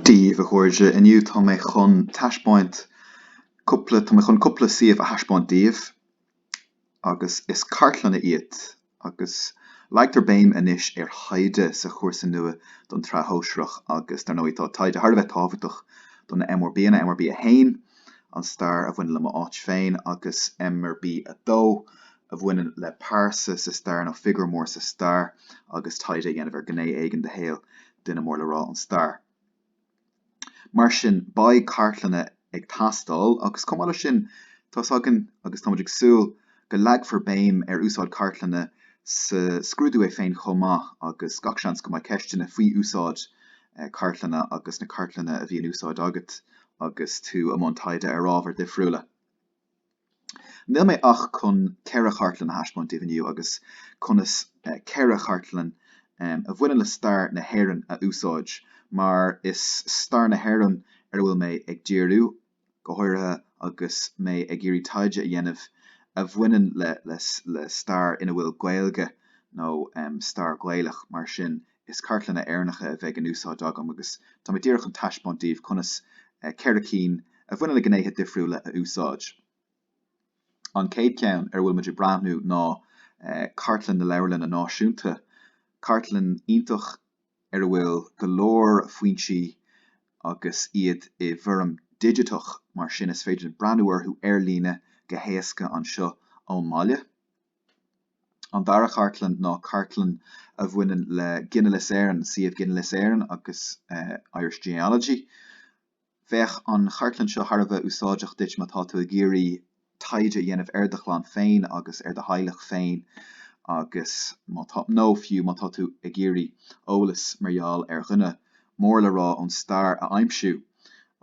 Dia daoibh a chairde, inniu tá mé chun taispeáint cúpla, tá mé chun cúpla suíomh a thaispeáint daoibh, agus is cartlanna iad, agus leagtar béim anois ar thaighde sa chúrsa nua don tSraith Shóisearach, agus dar ndóigh tá taighde thar a bheith tábhachtach do na MRBanna, MRB 1, an stair a bhaineann le m'áit féin, agus MRB 2, a bhaineann le pearsa sa stair nó figiúr mór sa stair agus taighde a dhéanamh ar ghné éigin de shaol duine mór le rá ón stair. Mar sin, beidh cartlanna ag teastáil agus chomh maith leis sin, tá's againn agus táimid ag súil go leagfar béim ar úsáid cartlanna sa scrúdú é féin chomh maith agus gach seans go mbeidh ceisteanna faoi úsáid cartlanna agus na cartlanna a bhí in úsáid agat agus tú i mbun taighde ar ábhair dhifriúla. Níl mé ach chun ceithre chartlann a thaispeáint daoibh inniu agus conas ceithre chartlann a bhaineann le stair na hÉireann a úsáid, mar is stair na hÉireann ar a bhfuil mé ag díriú, go háirithe agus mé ag iarraidh taighde a dhéanamh a bhaineann le stair ina bhfuil Gaeilge nó stair Ghaelach mar sin Is cartlanna Éireannacha a bheidh in úsáid agam agus tá mé díreach chun taispeáint daoibh conas ceithre cinn a bhaineann le gnéithe difriúla a úsáid. An chéad cheann ar a bhfuil muid ag breathnú ná cartlann na Leabharlainne Náisiúnta, cartlann iontach ar a bhfuil go leor foinsí agus iad i bhfoirm digiteach, mar sin is féidir linn breathnú orthu ar líne go héasca anseo ón mbaile. An dara cartlann ná cartlann a bhaineann le ginealas Éireann, suíomh Ginealas Éireann agus Irish Genealogy. Bheadh an chartlann seo thar a bheith úsáideach duit má tá tú ag iarraidh taighde a dhéanamh ar do chlann féin agus ar do theaghlach féin agus má tá, nó fiú má tá tú ag iarraidh eolas mar gheall ar dhuine mór le rá ón stair a aimsiú,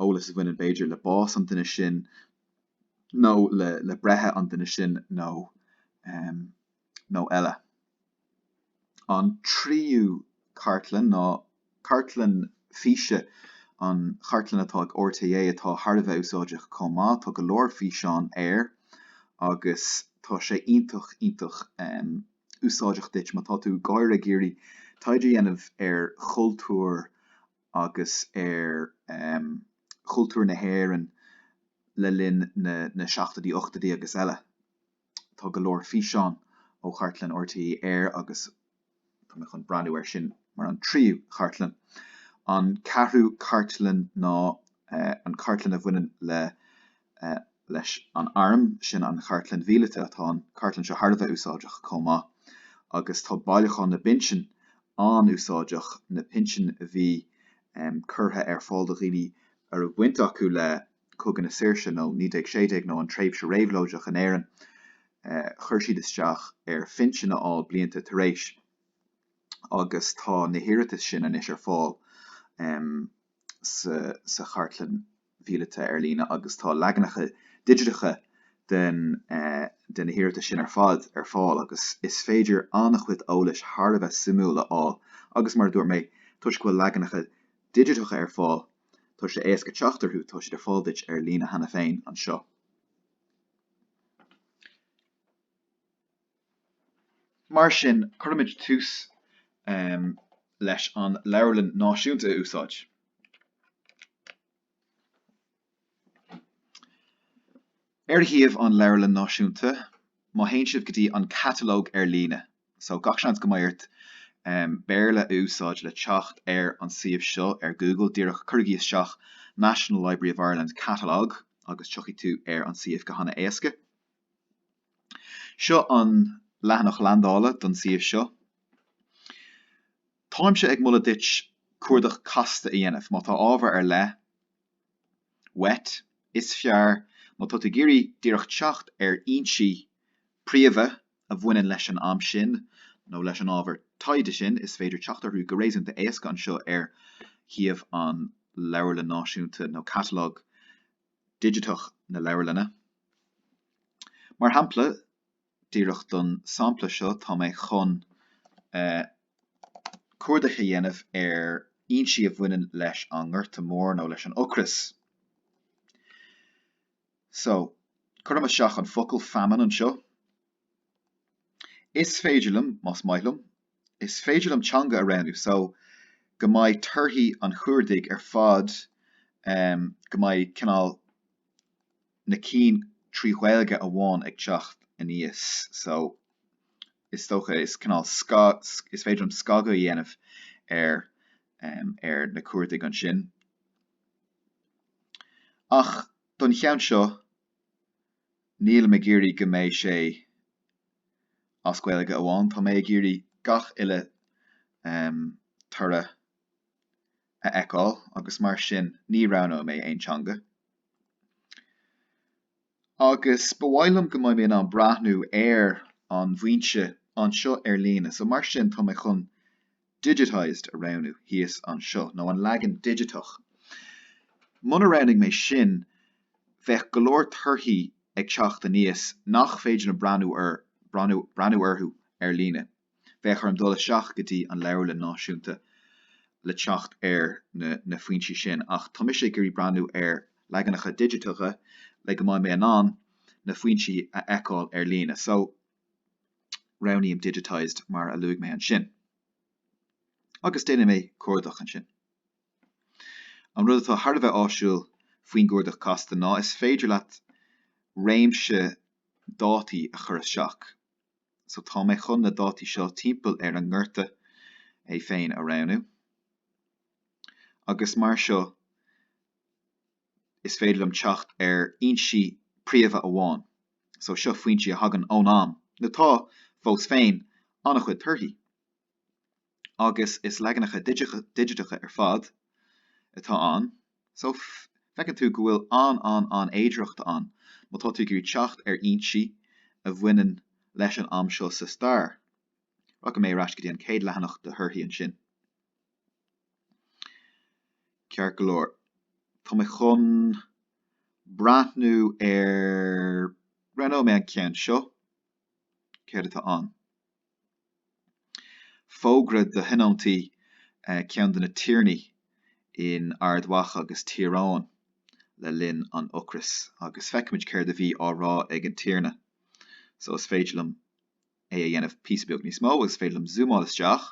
eolas a bhaineann b'fhéidir le bás an duine sin nó. nó le breithe an duine sin nó eile. An tríú cartlann ná cartlann físe, an chartlann atá ag RTÉ atá thar a bheith úsáideach chomh maith. Tá go leor físeán air agus tá sé iontach, iontach úsáideach duit má tá tú go háirithe ag iarraidh taighde a dhéanamh ar chultúr agus ar chultúr na hÉireann le linn na seachtóidí, ochtóidí agus eile. Tá go leor físeán ó chartlann RTÉ air agus tá mé chun breathnú air sin mar an tríú chartlann. An ceathrú cartlann ná an cartlann a bhaineann le leis an arm, sin an chartlann mhíleata. Tá an cartlann seo thar a bheith úsáideach chomh maith agus tá bailiúchán na bpinsean an-úsáideach, na pinsin a bhí curtha ar fáil do dhaoine a raibh baint acu le Cogadh na Saoirse nó 1916 nó an tréimhse réabhlóideach in Éirinn. Chuir siad isteach ar phinsean a fháil blianta tar éis agus tá na hiarratais sin anois ar fáil. sa Chartlann Mhíleata ar líne agus tá leaganacha digiteacha den de na hiarratais sin ar fad ar fáil agus is féidir an-chuid eolais thar a bheith suimiúil a fháil agus, mar a dúirt mé, toisc go bhfuil leaganacha digiteacha ar fáil, tá sé éasca teacht orthu, tá siad ar fáil duit ar líne cheana féin anseo. Mar sin, cuirimid tús leis an Leabharlann Náisiúnta a úsáid. Ar shuíomh an Leabharlann Náisiúnta, má théann sibh go dtí an Catalóg ar líne, so, gach seans go mbeidh ort Béarla a úsáid le teacht ar an suíomh seo ar Google díreach, cuirigí isteach National Library of Ireland Catalogue agus tiocfaidh tú ar an suíomh go han-éasca. Seo an leathanach landála don suíomh seo. Táimse ag moladh duit cuardach casta a dhéanamh má tá ábhar ar leith uait. Is fearr má tá tú ag iarraidh díreach teacht ar fhoinsí príomha a bhaineann leis an am sin nó leis an ábhar taighde sin, is féidir teacht orthu go réasúnta éasca anseo ar shuíomh an Leabharlann Náisiúnta nó catalóg digiteach na leabharlainne. Mar shampla, díreach don sampla seo, tá mé chun cuardach a dhéanamh ar fhoinsí a bhaineann leis an nGorta Mór nó leis an ocras. So, cuirim isteach an focal famine anseo. Is féidir liom, más maith liom, is féidir liom teanga a roghnú so go mbeidh torthaí an chuardaigh ar fad, em, go mbeidh cineál na cinn trí Ghaeilge amháin ag teacht aníos so is dócha, is cineál sca, sc, is féidir liom scagadh a dhéanamh ar, em, ar na cuardaigh ansin. Ach don cheann seo, Níl mé ag iarraidh go mbeidh sé as Gaeilge amháin, tá mé ag iarraidh gach uile toradh a fheiceáil agus mar sin ní roghnóidh mé aon teanga. Agus ba mhaith liom go mbeidh mé in ann breathnú ar an bhfoinse anseo ar líne, so mar sin tá mé chun digitized a roghnú thíos anseo, nó an leagan digiteach. Muna roghnaigh mé sin, bheadh go leor torthaí ag teacht aníos nach féidir liom breathnú orthu ar líne. Bheadh orm dul isteach go dtí an Leabharlann Náisiúnta le teacht ar na foinsí sin, ach tá mise ag iarraidh breathnú ar leaganacha digiteacha le go mbeidh mé in ann na foinsí a fheiceáil ar líne. Roghnaím Digitized mar a luaigh mé ansin agus déanfaidh mé cuardach ansin. An rud atá thar a bheith áisiúil faoin gcuardach casta ná is féidir leat réimse dátaí a chur isteach. So tá mé chun na dátaí seo timpeall ar an nGorta é féin a roghnú agus mar seo is féidir liom teacht ar fhoinsí príomha amháin so seo, foinsí a thagann ón am. Now tá, fós féin, an-chuid torthaí agus is leaganacha digiteacha ar fad atá ann so feiceann tú go bhfuil an-an-an-fhéidireacht ann má tá tú ag iarraidh teacht ar fhoinsí a bhaineann leis an am seo sa stair. Rachaidh mé ar ais go dtí an chéad leathanach de thorthaí ansin. Ceart go leor, tá mé chun breathnú ar, roghnóidh mé an ceann seo. Céard atá ann? Fógra do thionóntaí ceann de na tiarnaí in Ard Mhacha agus Tír Eoghain le linn an ocrais agus feicfimid céard a bhí á rá ag an tiarna. So is féidir liom é a dhéanamh píosa beag níos mó agus is féidir liom zúmáil isteach.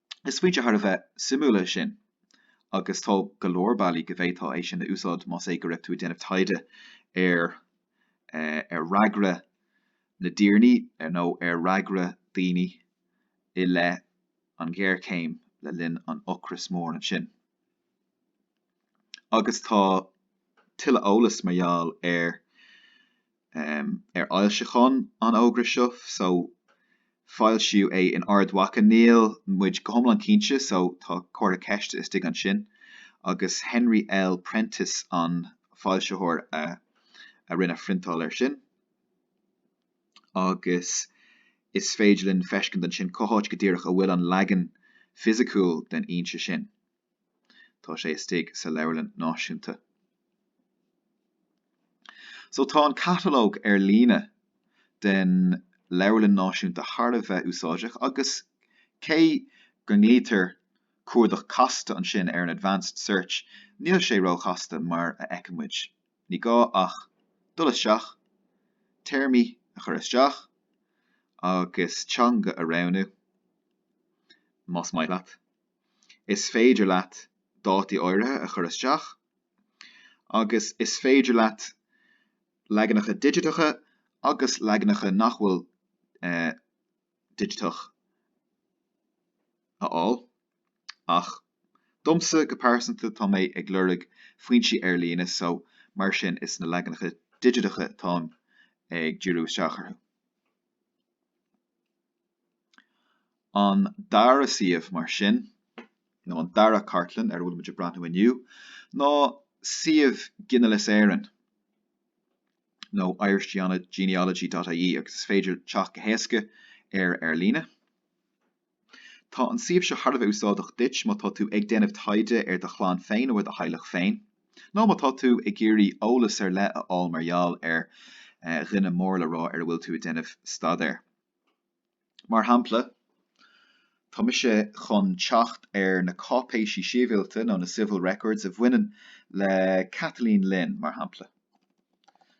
Is foinse thar a bheith suimiúil é sin agus tá go leor bealaí go bhféadfá é sin a úsáid más é go raibh tú ag déanamh taighde ar ar fhreagra na dtiarnaí ar nó ar fhreagra daoine i leith an ghéarchéim le linn an Ocrais Mhóir ansin. Agus tá tuilleadh eolais mar gheall ar um ar fhoilseacháin an fhógra seo so foilsíodh é in Ard Mhacha Níl muid go hiomlán cinnte so tá comhartha ceiste istigh ansin agus Henry L. Prentice an foilsitheoir a a rinne priontáil air sin agus is féidir linn feiscint ansin cá háit go díreach a bhfuil an leagan fisiciúil den fhoinse sin. Tá sé istigh sa Leabharlann Náisiúnta. So tá an catalóg ar líne den Leabharlann Náisiúnta thar a bheith úsáideach agus cé go nglaoitear cuardach casta ansin ar an advanced search, níl sé róchasta mar a fheiceann muid. Ní gá ach dul isteach, téarmaí a chur isteach agus teanga a roghnú más maith leat. is féidir leat dátaí áirithe a chur isteach agus is féidir leat leaganacha digiteacha agus leaganacha nach bhfuil digiteach a fháil ach domsa go pearsanta tá mé ag lorg foinsí ar líne so mar sin is na leaganacha digiteacha atáim ag díriú isteach orthu. An dara suíomh, mar sin, nó an dara cartlann ar a bhfuil muid ag breathnú inniu, ná suíomh Ginealas Éireann, nó irishgenealogy.ie, agus is féidir teacht go héasca air ar líne. Tá an suíomh seo thar a bheith úsáideach duit má tá tú ag déanamh taighde ar do chlann féin nó ar do theaghlach féin, nó má tá tú ag iarraidh eolas ar leith a fháil mar gheall ar dhuine mór le rá ar a bhfuil tú ag déanamh staidéir. Mar shampla, tá mise chun teacht ar na cáipéisí síbhialta nó na civil records a bhaineann le Kathleen Lynn, mar shampla.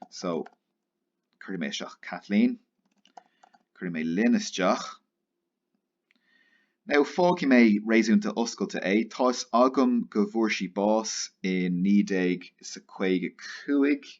So, cuirfidh mé isteach Kathleen. Cuirfidh mé Lynn isteach. Now, fágfaidh mé réasúnta oscailte é. Tá 'fhios agam go bhfuair sí bás in 1955.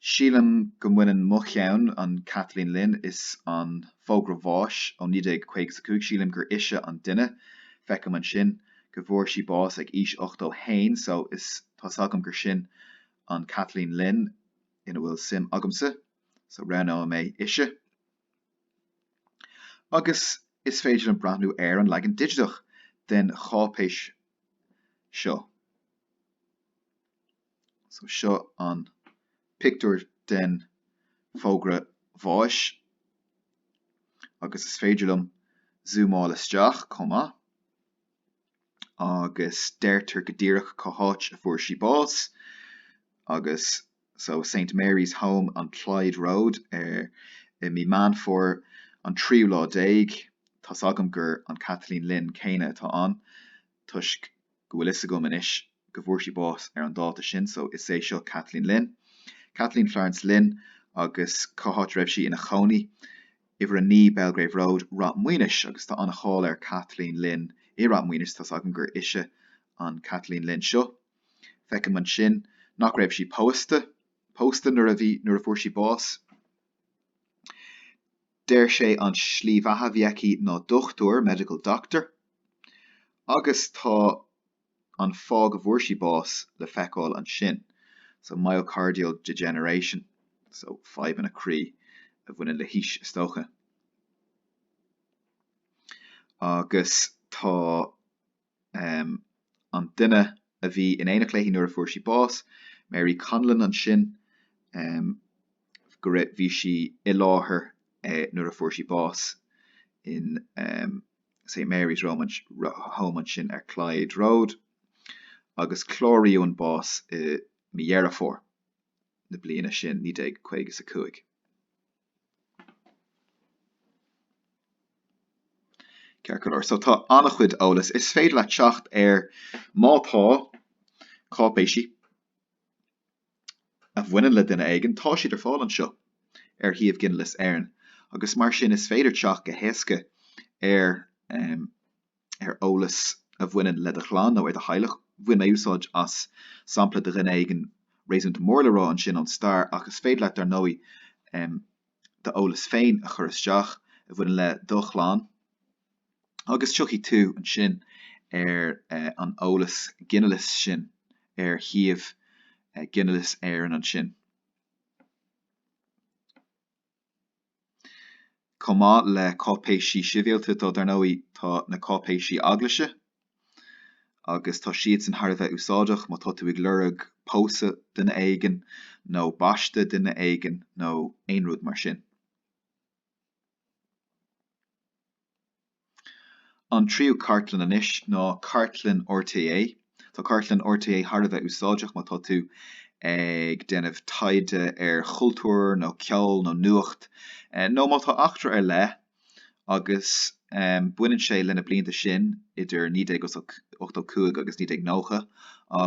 Sílim go mbaineann mo cheann, an Cathleen Lind is an fógra bháis ó 1955, sílim gur ise an duine, feicim ansin go bhfuair sí bás ag aois 81 so is tá's agam gur sin an Kathleen Lynn ina bhfuil suim agamsa so roghnóidh mé ise. Agus is féidir liom breathnú ar an leagan digiteach den cháipéis seo. So seo an pictiúr den fógra bháis agus is féidir liom zúmáil isteach chomh maith agus deirtear go díreach cá háit a fuair sí bás agus so Saint Mary's Home on Clyde Road ar i mí Meán Fómhair an tríú lá déag. Tá's agam gur an Kathleen Lynn céanna atá ann. toisc go bhfuil a fhios agam anois go bhfuair sí bás ar an dáta sin so is é seo Kathleen Lynn, Kathleen Florence Lynn agus cá háit a raibh sí ina chónaí, uimhir a naoi Belgrave Road, Rath Maoinis agus tá an-cháil ar Kathleen Lynn i Rath Maoinis, tá's agam gur ise an Kathleen Lynn seo. Feicim ansin nach raibh sí pósta, pósta nuair a bhí, nuair a bhfuair sí bás. Deir sé an slí bheatha a bhí aici ná dochtúir, medical doctor, agus tá an fáth go bhfuair sí bás le feiceáil ansin, so myocardial degeneration, so fadhbanna croí a bhaineann le haois, is dócha. Agus tá. um an duine a bhí in éineacht léi nuair a fuair sí bás, Mary Conlon, ansin um go raibh, bhí sí i láthair eh nuair a fuair sí bás in um St Mary's Rome, Home ansin ar Clyde Road agus cláraíodh an bás i mí Dheireadh Fómhair na bliana sin, naoi déag caoga is a cúig. Ceart go leor, so tá an-chuid eolas is féidir leat teacht air. Má tá cáipéisí a bhaineann le duine éigin, tá siad ar fáil anseo ar shuíomh Ghinealas Éireann, agus mar sin is féidir teacht go héasca ar ar eolas a bhaineann le do chlann nó ar do theaghlach. Bhain mé úsáid as sampla de dhuine éigin réasúnta mór le rá ansin ón stair, ach is féidir leat, dar ndóigh, d'eolas féin a chur isteach a bhaineann le do chlann agus tiocfaidh tú ansin ar an eolas ginealais sin ar shuíomh Ghinealas Éireann ansin. chomh maith le cáipéisí sibhialta tá, dar ndóigh, tá na cáipéisí eaglaise agus tá siadsan thar a bheith úsáideach má tá tú ag lorg pósadh duine éigin nó baisteadh duine éigin nó aon rud mar sin. An tríú cartlann anois ná cartlann RTÉ. Tá cartlann RTÉ thar a bheith úsáideach má tá tú ag déanamh taighde ar chultúr nó ceol nó nuacht, nó má tá eachtra ar leith, agus baineann sé le na blianta sin idir 1985 agus 1990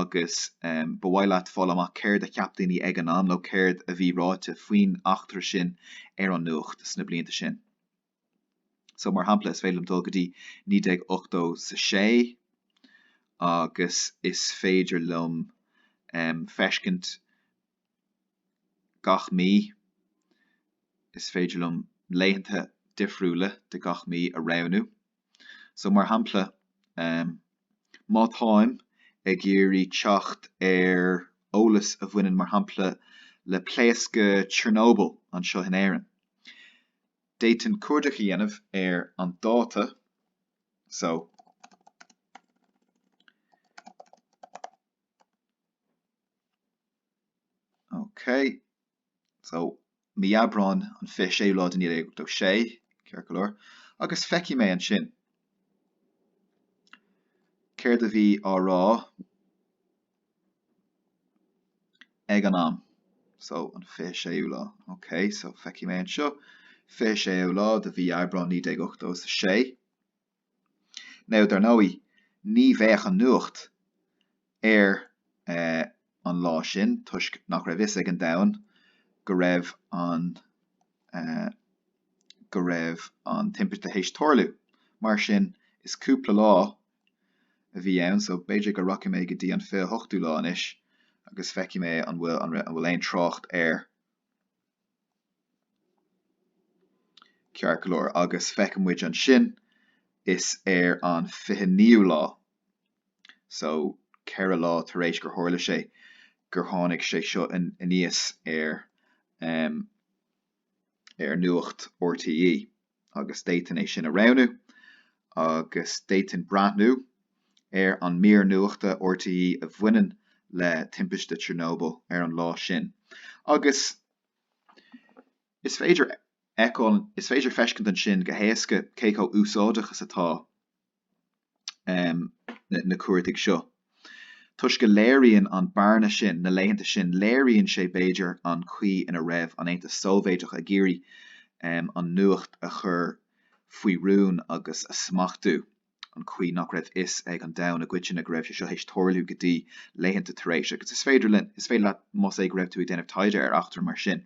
agus ba mhaith leat fáil amach céard a cheap daoine ag an am nó céard a bhí ráite faoin eachtra sin ar an nuacht sna blianta sin. So, mar shampla, is féidir liom dul go dtí 1986 agus is féidir liom feiscint gach mí, is féidir liom laethanta difriúla de gach mí a roghnú. So, mar shampla, má táim ag iarraidh teacht ar eolas a bhaineann, mar shampla, le pléascadh Chernobyl anseo in Éirinn, D'fhéadfainn cuardach a dhéanamh ar an dáta so Ok, so mí Aibreáin an 26ú lá de 1986, ceart go leor, agus feicfidh mé ansin céard a bhí á rá ag an am. So, an 26ú lá. Ok, so feicfidh mé anseo. 26ú lá de mhí Aibreán 1986. Now, dar ndóigh, ní bheadh an nuacht air eh, an lá sin toisc nach raibh fhios ag an domhan go raibh an eh, go raibh an timpiste théis tarlú. Mar sin, is cúpla lá a bhí ann so b'fhéidir go rachaidh mé go dtí an fiche hochtú lá anois agus feicfidh mé an bhfuil an bhfuil aon trácht air ceart go leor agus feicfidh muid ansin is ar an fiche naoú lá so ceithre lá tar éis gur tharla sé gur tháinig sé seo aníos ar ar nuacht RTÉ agus d'fhéadfainn é sin a roghnú agus d'fhéadfainn breathnú ar an mír nuachta RTÉ a bhaineann le timpiste Chernobyl ar an lá sin agus is féidir fheiceáil, is féidir feiscint ansin go héasca cé chomh úsáideach is atá. na cuardaigh seo. Toisc go léiríonn an bearna sin na laethanta sin, léiríonn sé, b'fhéidir, an chaoi ina raibh an Aontas Sóivéideach ag iarraidh an nuacht a chur faoi rún agus a smachtú, an chaoi nach raibh fhios ag an domhan i gcoitinne go raibh sé seo théis tarlú go dtí laethanta tar éis. Agus is féidir linn, is féidir leat, más é go raibh tú ag déanamh taighde ar eachtra mar sin,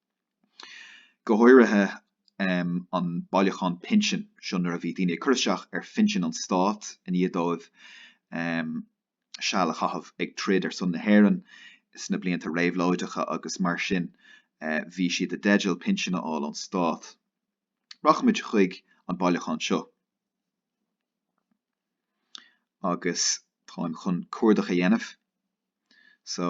go háirithe an bailiúchán pinsin. Seo nuair a bhí daoine ag cur isteach ar phinsean an stáit i ndiaidh dóibh em seal a chaitheamh ag troid ar son na hÉireann sna blianta réabhlóideacha agus mar sin bhí siad i dteideal pinsean a fháil ón stát. Rachaimid chuig an bailiúchán seo agus táim chun cuardach a dhéanamh. So.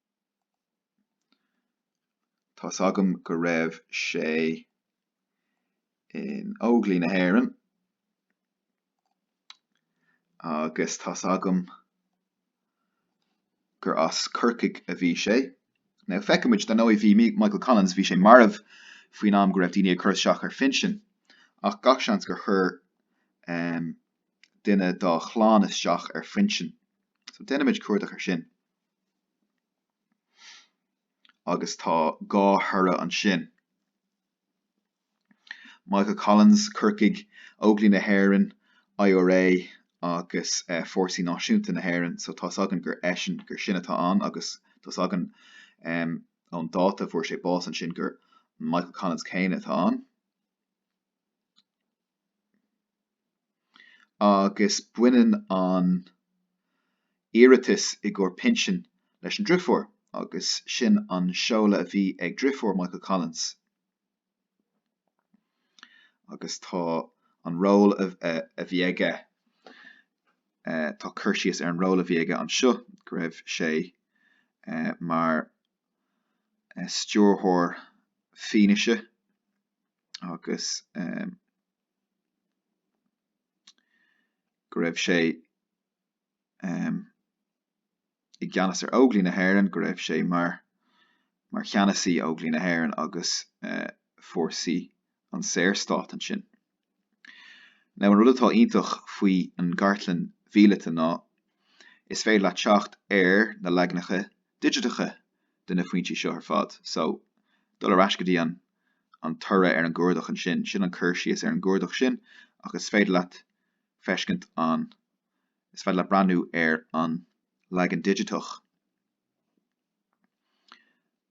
Tá's agam go raibh sé in Óglaigh na hÉireann agus tá's agam gur as Corcaigh a bhí sé. Now feicimid, dar ndóigh bhí Michael Collins, bhí sé marbh faoin am go raibh daoine ag cur isteach ar phinsean ach gach seans gur chuir duine dá chlann isteach ar phinsean. So déanaimid cuardach ar sin. agus tá dhá thoradh ansin. Michael Collins, Corcaigh, Óglaigh na hÉireann, IRA agus Fórsaí Náisiúnta na hÉireann, so tá's againn gur eisean, gur sin atá ann agus tá's againn ón dáta a bhfuair sé bás ansin gur Michael Collins céanna atá ann. agus baineann an t-iarratas i gcomhair pinsin leis an driofúr agus sin an seoladh a bhí ag driofúr Michael Collins, agus tá an ról a bhí aige, tá cur síos ar an ról a bhí aige anseo, go raibh sé mar stiúrthóir fianaise agus go raibh sé i gceannas ar Óglaigh na hÉireann, go raibh sé mar mar cheannasaí Óglaigh na hÉireann agus fórsaí an Saorstát ansin. Now an rud atá iontach faoi an gcartlann mhíleata ná is féidir leat teacht ar na leaganacha digiteacha de na foinsí seo ar fad. So dul ar ais go dtí an toradh ar an gcuardach ansin, sin an cur síos ar an gcuardach sin ach is féidir leat feiscint, is féidir leat breathnú ar an leagan digiteach.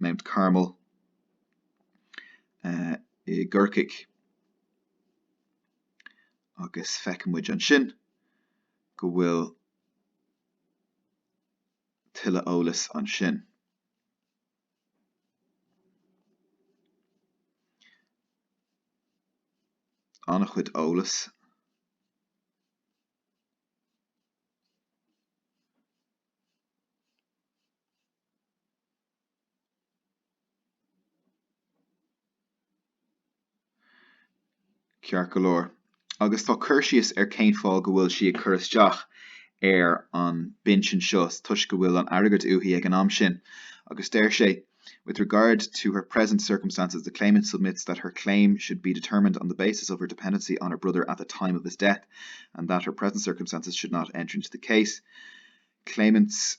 Mount Carmel, i gCorcaigh agus feicimid ansin go bhfuil tuilleadh eolais ansin. An-chuid eolais. Ceart go leor, agus tá cur síos ar cén fáth go bhfuil sí ag cur isteach ar an bpinsean seo, toisc go bhfuil an airgead uaithi ag an am sin, agus deir sé, 'With regard to her present circumstances, the claimant submits that her claim should be determined on the basis of her dependency on her brother at the time of his death and that her present circumstances should not enter into the case. Claimant's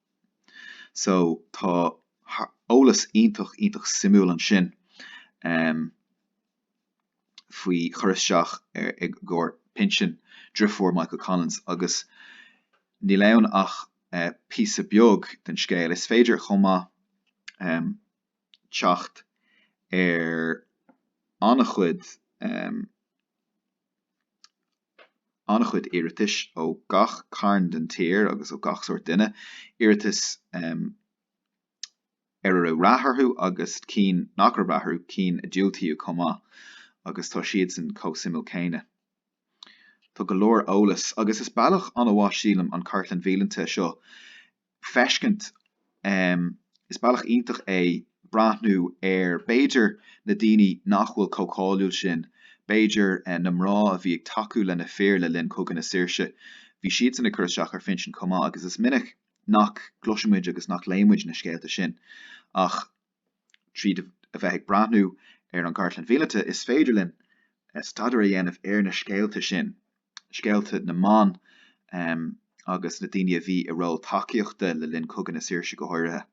So, tá eolas iontach, iontach suimiúil ansin faoi chur isteach i gcomhair pinsin drifiúr Michael Collins agus níl ann ach píosa beag den scéal. Is féidir chomh maith teacht ar an-chuid an-chuid iarratais ó gach cearn den tír agus ó gach sórt duine, iarratais a raibh rath orthu agus cinn nach raibh rath orthu, cinn a diúltaíodh chomh maith agus tá siadsan chomh suimiúil céanna. Tá go leor eolais, agus is bealach an-mhaith, sílim, an cartlann mhíleata seo feiscint. Is bealach iontach é breathnú ar, b'fhéidir, na daoine nach bhfuil chomh cáiliúil sin, b'fhéidir, na mná a bhí ag tacú le na fir le linn Chogadh na Saoirse, bhí siadsan ag cur isteach ar phinsean chomh maith agus is minic nach gcloiseann muid agus nach léann muid na scéalta sin ach Tríd a bheith ag breathnú ar an gcartlann mhíleata, is féidir linn staidéar a dhéanamh ar na scéalta sin, scéalta na mban agus na daoine a bhí i ról tacaíochta le linn Chogadh na Saoirse go háirithe.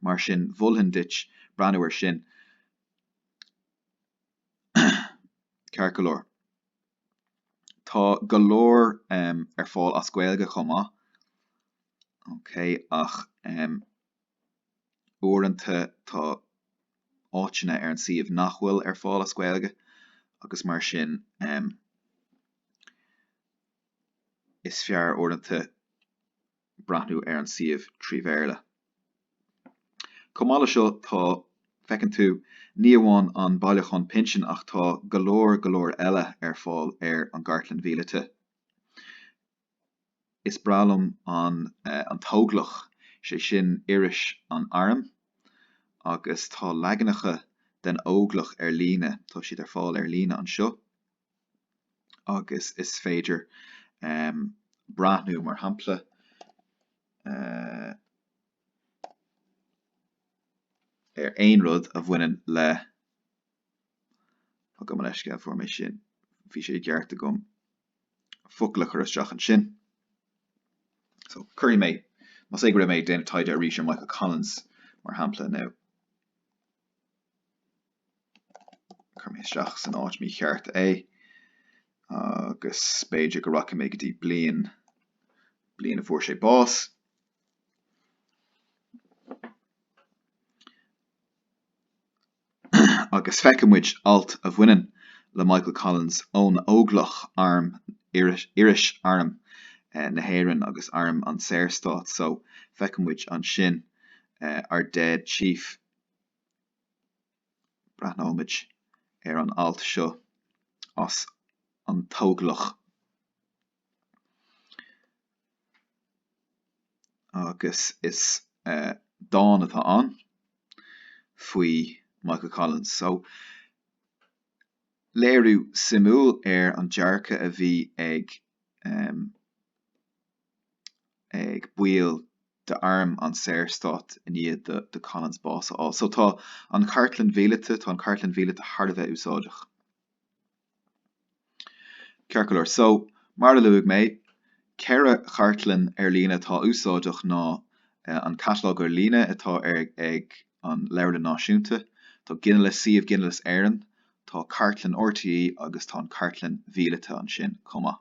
Mar sin, mholfainn duit breathnú air sin ceart go leor. Tá go leor ar fáil as Gaeilge chomh maith, okay, ach. Uaireanta tá áiteanna ar an suíomh nach bhfuil ar fáil as Gaeilge agus mar sin is fearr uaireanta breathnú ar an suíomh trí Bhéarla. Chomh maith le seo tá, feiceann tú, ní amháin an bailiúchán pinsin ach tá go leor go leor eile ar fáil ar an gCartlann Mhíleata. Is breá liom An tÓglach, sé sin iris an Airm, agus tá leaganacha den Óglach ar líne, tá siad ar fáil ar líne anseo, agus is féidir breathnú, mar shampla, ar aon rud a bhaineann le, gabh mo leithscéal, fuair mé sin, bhí sé ceart agam. focal a chur isteach ansin. So, cuirfidh mé, más é go raibh mé ag déanamh taighde arís ar Michael Collins, mar shampla, now, chuir mé isteach san áit mícheart é agus b'fhéidir go rachaidh mé go dtí bliain, bliain a fuair sé bás. agus feiceann muid alt a bhaineann le Michael Collins ón Óglach, arm iris, arm na hÉireann agus arm an tSaorstáit so, feiceann muid ansin ár dead chief. Breathnóimid ar an alt seo as An tÓglach. agus is dán atá ann faoi Michael Collins. So, léiriú suimiúil ar an dearcadh a bhí ag ag baill d'Arm an Saorstáit i ndiaidh do Collins bás a fháil. So, tá an Chartlann Mhíleata, tá an Chartlann Mhíleata thar a bheith úsáideach. Ceart go leor so, Mar a luaigh mé, ceithre chartlann ar líne atá úsáideach ná an catalóg ar líne atá ar ag an Leabharlann Náisiúnta, tá ginealas suíomh Ginealas Éireann, tá cartlann RTÉ agus tá an cartlann mhíleata ansin chomh maith.